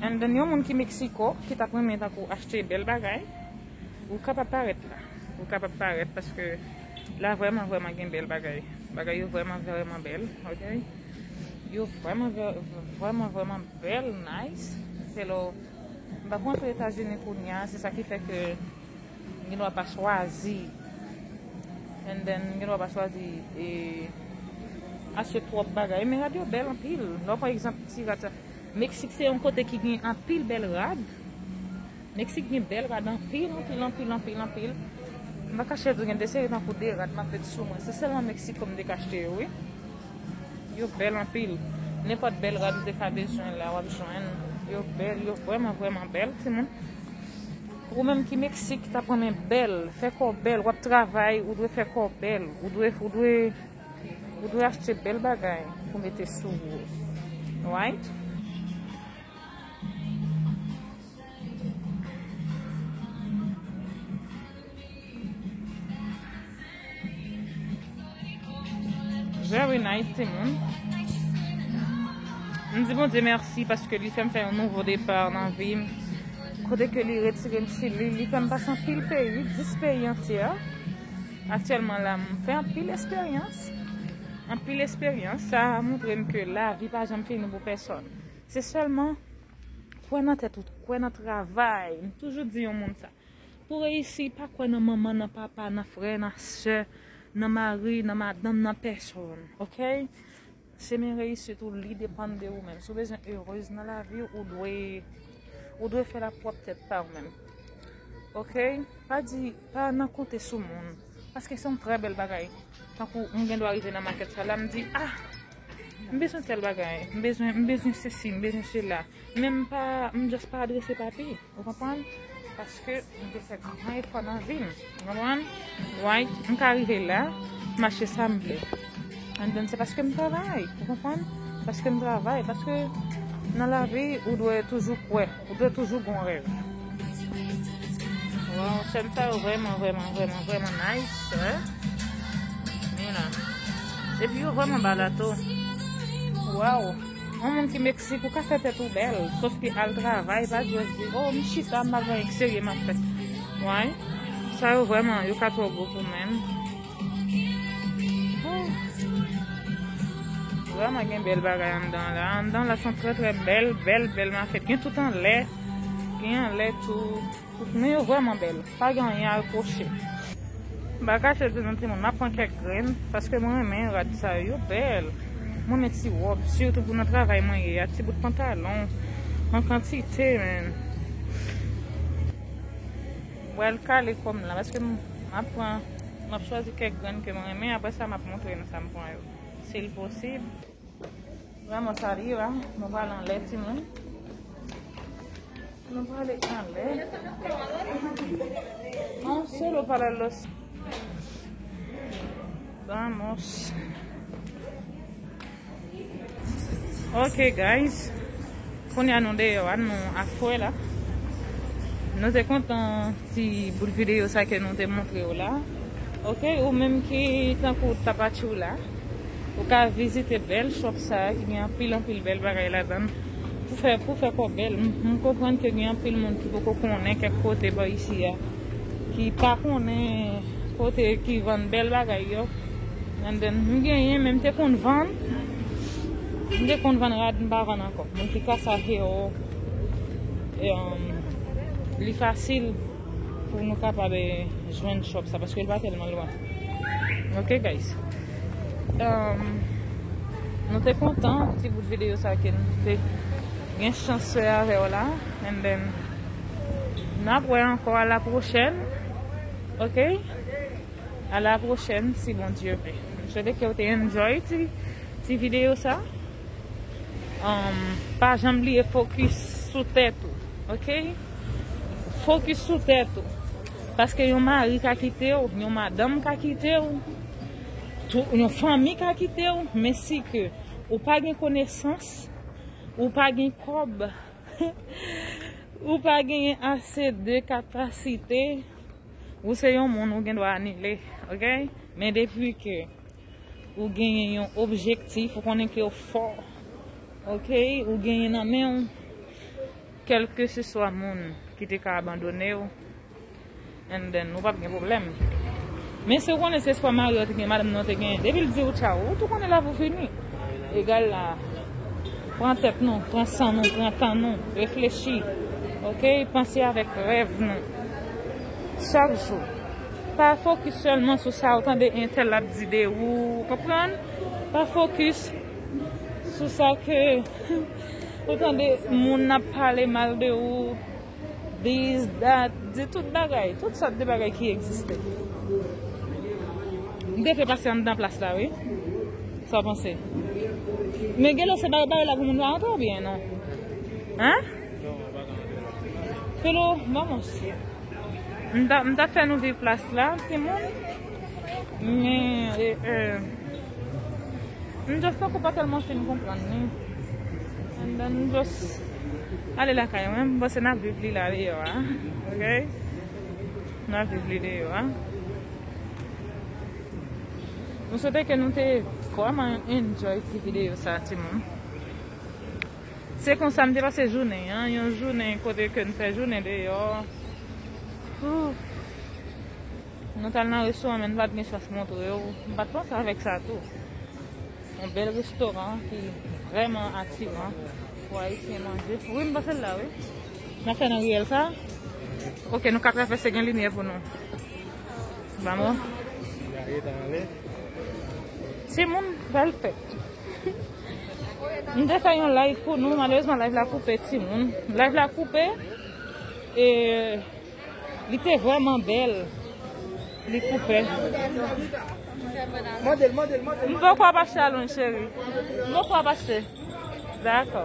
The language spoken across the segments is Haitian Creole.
And then yon moun ki Mexico ki tap renmen tankou achte bèl bagay ou kapab parèt la ou kapab parèt paske la vrèman vrèman gen bèl bagay bagay yo vrèman vrèman bèl ok yo vrèman vrèman vrèman bèl nice hello m pa kontre etazini kounya se sa ki fè ke Gen dwa pa chwazi and then gen dwa pa chwazi e achte twòp bagay men rad yo bèl anpil lè w pran egzanp ti rad sa Mexique se yon kote ki gen anpil bèl rad Mexique gen bèl rad anpil anpil anpil anpil anpil m pa kache w gen de seri tankou de rad m ap met sou mwen se sèlman Mexique ke m te ka achte yo wi yo bèl anpil nenpòt bèl rad ou te ka bezwen la w ap jwenn yo bèl yo vrèman vrèman bèl timoun. Ou menm ki mexique tap renmen bèl fè kò bèl wap travay ou dwe fè kò bèl ou dwe ou dwe ou dwe achte bèl bagay pou mete sou ou right. Very nice ti moun. M di Bondye merci paske li fèm fè yon nouvo départ nan vim. Kote ke li retirem Chili, li fèm pase anpil peyi, 10 peyi antye. Aktyèlman la m fè anpil esperyans. Anpil esperyans sa moutrem ke lavi pa janm fini pou pèsòn. Se sèlman kwè nan tèt ou, kwè nan travay. M toujou di yon moun sa. Pou reyisi, pa kwè nan manman, nan papa, nan frè, nan sè, nan mari, nan madanm, nan pèsonn. Ok? Chemen reyisit ou li depann de ou menm. Si w bezwen erez nan lavi w, ou dwe ou dwe fè l ak pwòp tèt pa w menm. Ok? Pa di, pa nan konte sou moun. Paske se yon trè bèl bagay. Tankou m gen dwa rive nan makèt sa la, m di, ah! M bezwen tèl bagay. M bezwen, m bezwen sesi, m bezwen sela. Men m pa, m just pa adrese papi, ou konprann? Paske m te fè gran efò nan vi m, ou konprann? Why? M ka rive la, m achte sa m vle. And then se paske m travay, ou konprann? Paske m travay, paske nan lavi ou dwe toujou kwè, ou dwe toujou gon rèv. Waww, chèn sa yo vrèman, vrèman, vrèman, vrèman nice, wè. Ni la. Epi yo vrèman ba la tou. Waww. On moun ki mexique ou ka fè tèt ou bèl sof ke al travay pa just di oh m chita m ap gen x serye m ap fè why sa yo vrèman yo ka twò gwo pou mwen vrèman gen bèl bagay anndan la anndan la son trè trè bèl bèl bèl mafèt gen tout anlè gen anlè tou Nou yo vreman bel. Pa gen anyen a reproche. Mpa kache di nou timoun map pran kek grenn paske mwen renmen rad sa yo yo bel mwen renmen ti rob surtout pou nan travay mwen ye a ti bout pantalon an kantite menn bwal kale kom la paske map pran map chwazi kek grenn ke mwen renmen apresa map montre nou sam pran yo sil posib. Vreman sa li ye la. Nou pral anlè ti moun. Nou pral e anlè. An se lo pala los. Vamos. Ok guys. Kounya nou deyò a nou afwe la. Nou te kontan ti bout videyo sa ke nou te moutrew la ok ou menm ki tankou tapachou la ou ka vizite bèl shop sa ki gen anpil anpil bèl bagay ladann pou fè pou fè kò bèl m konprann ke gen anpil moun ki poko konnen kèk kote bò isi a ki pa konnen kote ki vann bèl bagay yo m genyen men m te konn vann. M te konn vann rad m pa vann ankò. Moun ki ka sa hero li fasil pou nou kapab jwenn shop sa paske li pa tèlman lwen. Ok guys. Um, nou te kontan ti bout video sa ke nou te gen chans fè avèw la. And then nap wè ankò a la prochèn. Ok? A la prochèn si Bondye vle. M swete kew te enjoy ti video sa. Pa janm bliye fokis sou tèt ou ok. Fokis sou tèt ou. Paske yon mari ka kitew, yon madanm ka kitew, yon fanmi ka kitew, men si ke ou pa gen konesans, ou pa gen kob, ou pa gen ase de kapasite. Ou se yon moun ou gen dwa anile ok men depi ke ou genyen yon objektif ou konnen ke ou fò ok ou genyen nan men ou kelke se swa moun ki te ka abandone ou and then ou pap gen pwoblèm men si ou konnen se swa mariw te gen madanm nan ou te genyen depi l diw tchaw ou tou konnen la pou fini egal la pran tèt nou pran san nou pran tan nou reflechi ok panse avèk rèv nou. chak jou. Pa fokis sèlman sou sa ou tande entèl ap di de ou, ou konprann? Pa fokis sou sa ke ou tande moun ap pale mal de ou, dis, dat, di tout bagay, tout sòt de bagay ki egziste. M gen fè pase anndan plas la wi. Sa w panse? Men gen lè se bay bay la pou moun pa antre oubyen non? Hein? Polo bon mesye. M tap fè nou viv plas la timoun. Men eeh m just tankou pa tèlman fin konprann li. And then m just ale lakay mwen. M panse nap viv li la deyò a. Ok Nap viv li deyò a. M swete ke nou te vrèman enjoy ti videyo sa timoun. Se konsa m te pase jounen an, yon jounen kote ke n fè jounen deyò. Ooh! Nou t al nan restoran men n pa t gen chans montre w. M pa t panse avèk sa tou. Yon bèl restoran ki vrèman atiran pou Ayisyen manje. Wi m pase l la wi. N ap fè nan riyèl sa a? Ok nou ka travèse gen limyè pou nou. Vamo! Se moun bèl fèt. M te fè yon live pou nou malerezman live la koupe timoun live la koupe e li te vreman bel li koupe m pa kwa pa chalon cheri m pa kwa pa se dako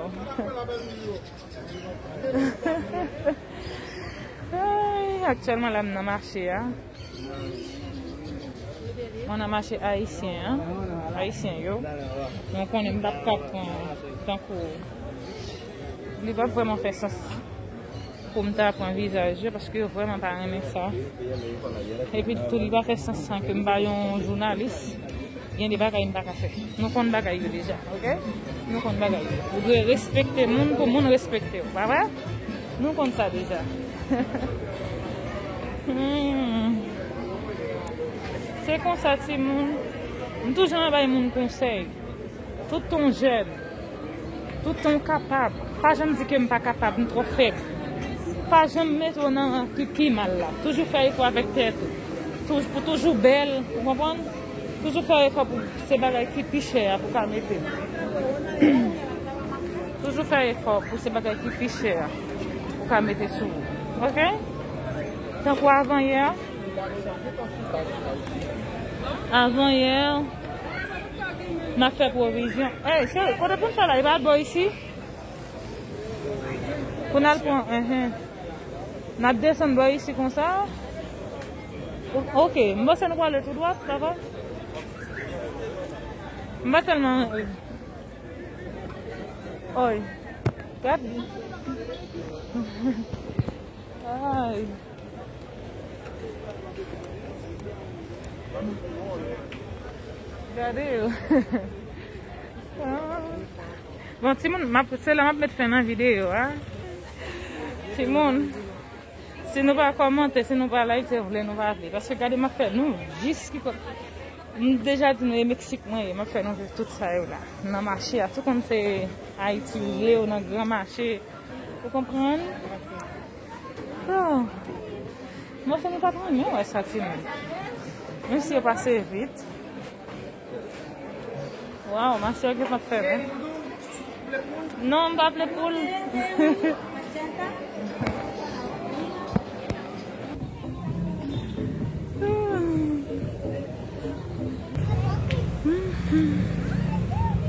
aktyelman la m nan mache a Mwen nan mache ayisyen an, ayisyen yo, mwen konnen m pap ka pran tankou li pap vreman fè sans pou m ta pran vizaj yo paske yo vreman pa renmen sa. Epi tou li pa fè sans san ke m pa yon jounalis, gen de bagay m pa ka fè. Nou konn bagay yo deja, ok? Nou konn bagay yo. Ou dwe respekte moun pou moun respekte w, pa vre? Nou konn sa deja. Se konsa ti moun. M toujou nan bay moun konsèy. Tout ton jèn. Tout ton kapab. Pa janm di ke m pa kapab, m twò fèb. Pa janm mete w nan ki pi mal la. Toujou fè efò avèk tèt ou. Toujou pou toujou bèl, ou konprann? Toujou fè efò pou se bagay ki pi chè a pou ka mete. Toujou fè efò pou se bagay ki pi chè a ou ka mete sou ou ok tankou avan yè avan yè nap fè pwovizyon ey cheri kote poun fè la li pa bò isi poun al pran enh nap desann bò isi konsa ok m panse nou prale tou dwat papa m pa tèlman. Oy. Gad li. Ay. Gade yo. Ah. Bon, ti moun, map, se la map met fen nan video a. Ti moun, si nou pa komante, si nou pa like, se vle nou pa vle. Paske gade map fè nou, jis ki kote. M deja di nou e mexique mwen ye map fè nou viv tout sa yo la nan mache a tou kòm se ayiti ou ye ou nan gran mache ou konprann so mwen se nou pat renmen wè sa timoun menm si yo pase vit. Waw mache yo gentan fèmen. Non m pa vle poul.